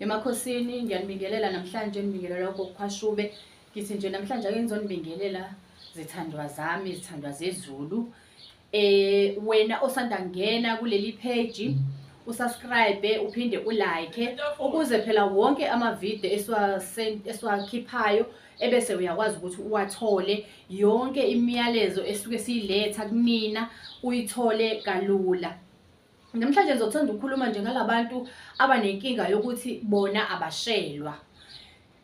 emakhosini ngiyanibingelela namhlanje nibingelela okokukhwashube ngithi nje namhlanje ake ngizonibingelela zithandwa zami zithandwa zezulu eh wena osanda ngena kuleli page usubscribe uphinde ulike ukuze phela wonke amavideo esiwakhiphayo ebese uyakwazi ukuthi uwathole yonke imiyalezo esuke siyiletha kunina uyithole kalula Namhlanje ngizothanda ukukhuluma nje ngalabantu abanenkinga yokuthi bona abashelwa.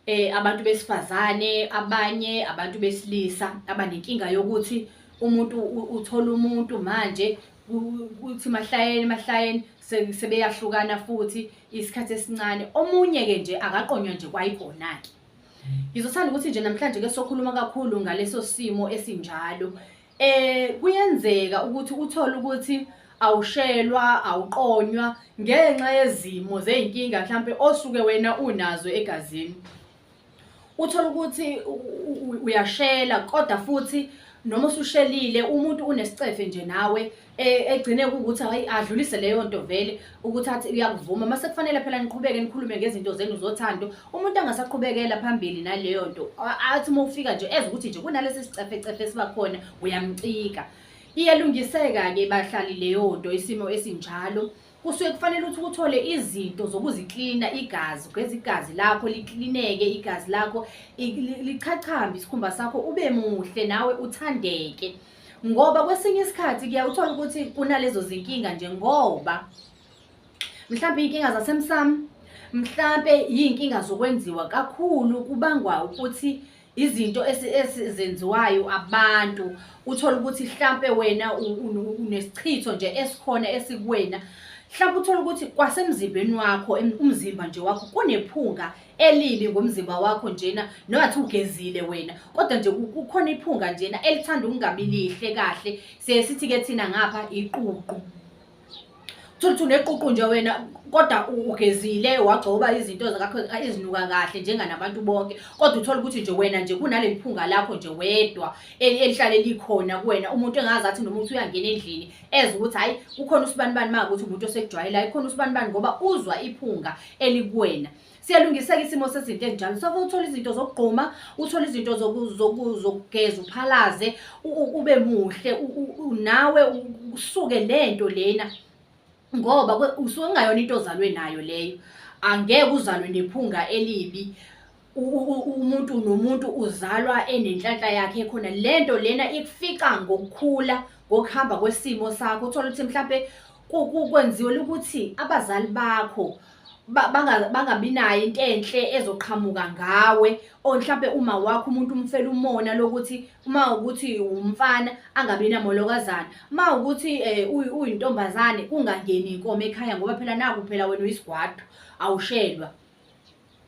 Eh abantu besifazane, abanye abantu besilisa abanenkinga yokuthi umuntu uthola umuntu manje kuthi mahlayeni mahlayeni sebeyahlukana futhi isikhathi esincane. Omunye ke nje akaqonywa nje kwayikona ke. Ngizothanda ukuthi nje namhlanje ke sokhuluma kakhulu ngaleso simo esinjalo. Eh kuyenzeka ukuthi uthole ukuthi awushelwa awuqonywa ngenxa yezimo zezinkinga mhlambe osuke wena unazo egazini uthola ukuthi uyashela kodwa futhi noma usushelile umuntu unesicefe nje nawe e- egcine kuwukuthi ayi adlulise leyo nto vele ukuthi athi uyakuvuma uma sekufanele phela niqhubeke nikhulume ngezinto zenu zothando umuntu angasaqhubekela phambili naleyo nto A- athi uma ufika nje eze ukuthi nje kunalesi sicefecefe esiba khona uyamcika iyalungiseka-ke bahlali leyo nto isimo esinjalo kusuke kufanele ukuthi uthole izinto zokuziklina igazi ugeza igazi lakho liklineke igazi lakho i- li- lichachambe isikhumba sakho ube muhle nawe uthandeke ngoba kwesinye isikhathi kuyawuthola ukuthi kunalezo zinkinga nje ngoba mhlawumbe iy'nkinga zasemsamo mhlawumbe iy'nkinga zokwenziwa kakhulu kubangwa ukuthi izinto ezenziwayo abantu uthole ukuthi mhlampe wena unesichitho nje esikhona esikuwena mhlawumbe uthole ukuthi kwasemzimbeni wakho umzimba nje wakho kunephunga elibi ngomzimba wakho njena nowathi ugezile wena kodwa nje kukhona iphunga njena elithanda ukungabi lihle kahle siye sithi-ke thina ngapha iququ thuluthi uneququ nje wena kodwa ugezile wagcoba izinto zakho ezinuka kahle njenganabantu bonke kodwa uthole ukuthi nje wena nje kunaleli phunga lakho nje wedwa elihlale likhona kuwena umuntu engazathi nomuntu uyangena endlini eze ukuthi hhayi kukhona usibanibani uma ukuthi umuntu osekujwayelayo kukhona usibanibani ngoba uzwa iphunga elikuwena siyalungiseka isimo sezinto ezinjalo soke uthole izinto zokugquma uthole izinto zokugeza uphalaze ube muhle nawe usuke nento lena ngoba usuke kungayona into ozalwe nayo leyo angeke uzalwe nephunga elibi umuntu nomuntu uzalwa enenhlanhla yakhe khona lento lena ikufica ngokukhula ngokuhamba kwesimo sakho uthola ukuthi mhlambe kwenziwe ukuthi abazali bakho bangabi nayo into enhle ezoqhamuka ngawe or mhlambe uma wakho umuntu umfela umona lokuthi uma ukuthi umfana angabi namolokazana uma ukuthi eh, uyintombazane kungangeni inkomo ekhaya ngoba phela naku phela wena uyisigwadu awushelwa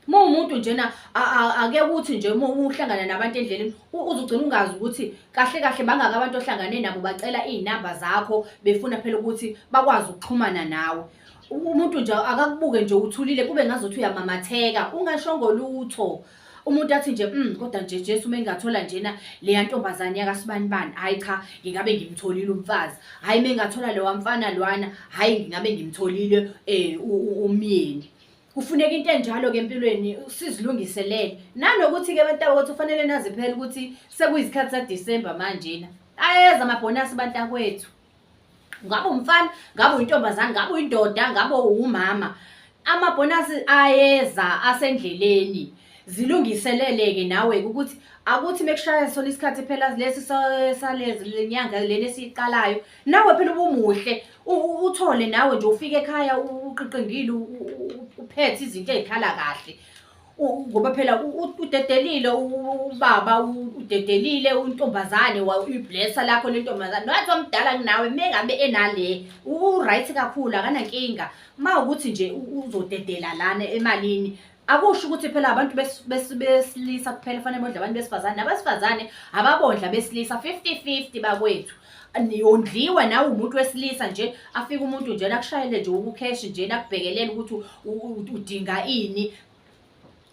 Uma umuntu njena ake kuthi nje uma uhlangana nabantu endleleni uzogcina ungazi ukuthi kahle kahle bangaka abantu ohlangane nabo bacela izinamba zakho befuna phela ukuthi bakwazi ukuxhumana nawe. Umuntu nje akakubuke nje uthulile kube ngazothi uyamamatheka ungashongo lutho. Umuntu athi nje mm kodwa nje Jesu uma engathola njena leya ntombazane yakasibani bani hayi cha ngingabe ngimtholile umfazi hayi uma engathola lewa mfana lwana hayi ngingabe ngimtholile eh umyeni kufuneka into enjalo ke empilweni sizilungiselele nanokuthi ke abantu abakuthi ufanele nazi phela ukuthi sekuyisikhathi sa December manje na ayeza amabhonasi abantu akwethu ngabe umfana ngabe uyintombazane ngabe uyindoda ngabe uwumama amabhonasi ayeza asendleleni zilungiseleleke nawe ukuthi akuthi mekushaya sona isikhathi phela lesi salezi lenyanga leni esiqalayo nawe phela ubumuhle uthole nawe nje ufike ekhaya uqiqingile uphethe izinto ey'khala kahle ngoba phela udedelile ubaba udedelile untombazane uyiblessa lakho lentombazane nathi omdala kunawe mengabe enale uright kakhulu akanankinga ma ukuthi nje uzodedela lana emalini akusho ukuthi phela abantu besilisa kuphela fanele bondla abantu besifazane nabasifazane ababondla besilisa 50-50 bakwethu yondliwe nawe umuntu wesilisa nje afike umuntu nje nakushayele nje ukukheshi nje nakubhekelela ukuthi udinga ini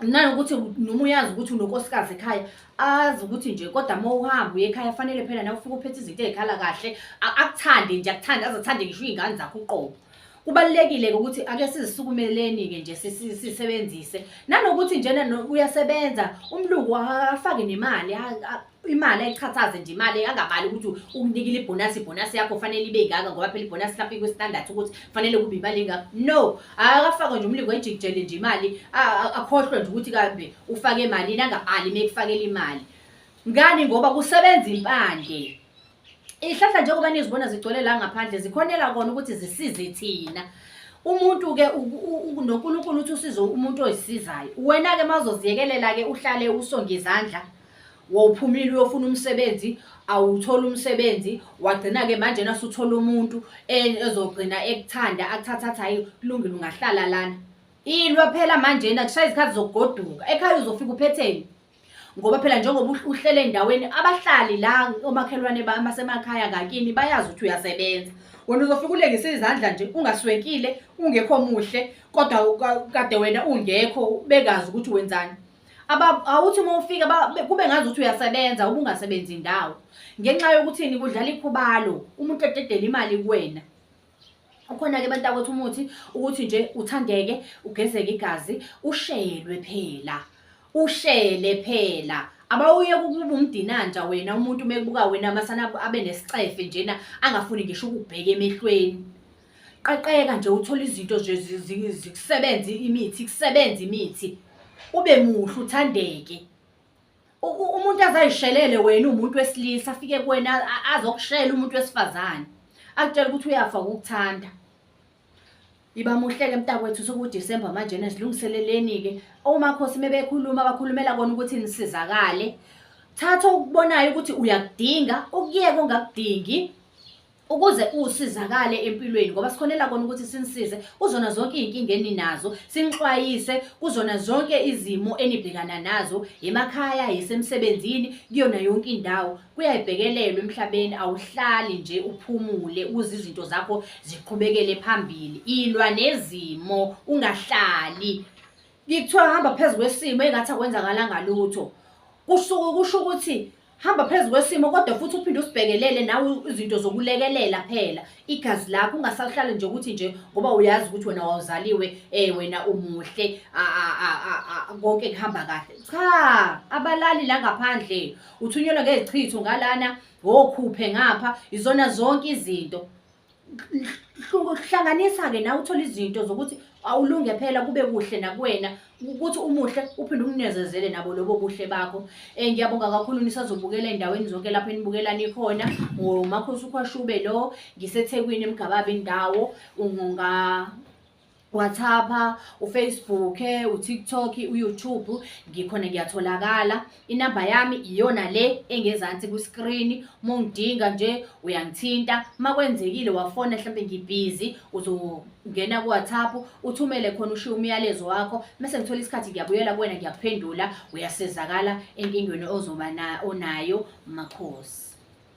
nanokuthi noma uyazi ukuthi unokosikazi ekhaya azi ukuthi nje kodwa uma uhamba uye ekhaya fanele phela nawe ufike uphethe izinto ey'khala kahle akuthande nje akuthande azathande ngisho iy'ngane zakho uqobo kubalulekile-ke ukuthi ake sizisukumeleni-ke nje sisebenzise nanokuthi njena uyasebenza umlungu afake nemali imali ayichathaze nje imali angabali ukuthi ukunikile ibhonasi ibhonasi yakho fanele ibe ingaka ngoba phela ibhonasi lapho ikwistandards ukuthi fanele kube imali ingaka no akafakwe nje umlingo ejikijele nje imali akhohlwe nje ukuthi kambe ufake emalini angabali uma ekufakela imali ngani ngoba kusebenza impande Izihlahla njengoba nizibona zigcwele la ngaphandle zikhonela kona ukuthi zisize thina. Umuntu-ke noNkulunkulu uthi usize umuntu oyisizayo. Wena-ke mazoziyekelela-ke uhlale usonge izandla wawuphumile uyofuna umsebenzi awutholi umsebenzi wagcina-ke manje nasuthola umuntu e-, ezogcina ekuthanda akuthathatha hayi kulungile ungahlala lana ilwa phela manjena kushaye izikhathi zokugoduka ekhaya uzofika uphetheni ngoba phela njengoba uhlele endaweni abahlali la omakhelwane basemakhaya ngakini bayazi ukuthi uyasebenza wena uzofika ulengise izandla nje ungaswenkile ungekho muhle kodwa kade wena ungekho bekazi ukuthi wenzani awuthi uma ufika kube ngazi ukuthi uyasebenza ubungasebenzi ndawo ngenxa yokuthini kudlala ikhubalo umuntu ededela imali kuwena ukhona-ke abantu akothi umuthi ukuthi nje uthandeke ugezeke igazi ushelwe phela ushele phela abawuye kukuba umdinanja wena umuntu mekubuka wena masana abe nesicefe njena angafuni ngisho ukubheka emehlweni qaqeka nje uthola izinto nje zikusebenza imithi kusebenza imithi ube muhle uthandeke umuntu azayishelele wena umuntu wesilisa afike kuwena azokushela umuntu wesifazane akutshela ukuthi uyafa ukukuthanda iba muhleke mntakwethu sekudisemba manje nezilungiseleleni-ke omakhosi mebekhuluma bakhulumela kona ukuthi nisizakale thatha okubonayo ukuthi uyakudinga ukuyeka ongakudingi ukuze usizakale empilweni ngoba sikhonela kona ukuthi sinisize kuzona zonke izinkinga eninazo sinixwayise kuzona zonke izimo enibhekana nazo emakhaya yisemsebenzini kuyona yonke indawo kuyayibhekelelwa emhlabeni awuhlali nje uphumule ukuze izinto zakho ziqhubekele phambili ilwa nezimo ungahlali ngikuthiwa hamba phezu kwesimo engathi akwenzakalanga lutho kusuke kusho ukuthi hamba phezu kwesimo kodwa futhi uphinde usibhekelele nawe izinto zokulekelela phela igazi lakho ungasahlali nje ukuthi nje ngoba uyazi ukuthi wena wawuzaliwe um wena umuhle konke kuhamba kahle cha abalali la ngaphandle uthunyelwa ngezichitho ngalana wokhuphe ngapha izona zonke izinto hlanganisa-ke nawe uthole izinto zokuthi awulunge phela kube kuhle nakuwena ukuthi umuhle uphinde umnezezele nabo lobo buhle bakho um ngiyabonga kakhulu nisazobukela endaweni zonke lapho enibukelani khona ngomakhosi ukhwashube lo ngisethekwini emgababe indawo ungonga WhatsApp, uFacebook, uTikTok, uYouTube ngikhona ngiyatholakala. Inamba yami iyona le engezansi ku-screen. Mungidinga nje uyangithinta. Makwenzekile wafona mhlambe ngibhizi uzongena ku-WhatsApp uthumele khona ushiye umyalezo wakho. Mase ngithola isikhathi ngiyabuyela kuwena ngiyakuphendula uyasizakala enkingweni ozoba na onayo makhosi.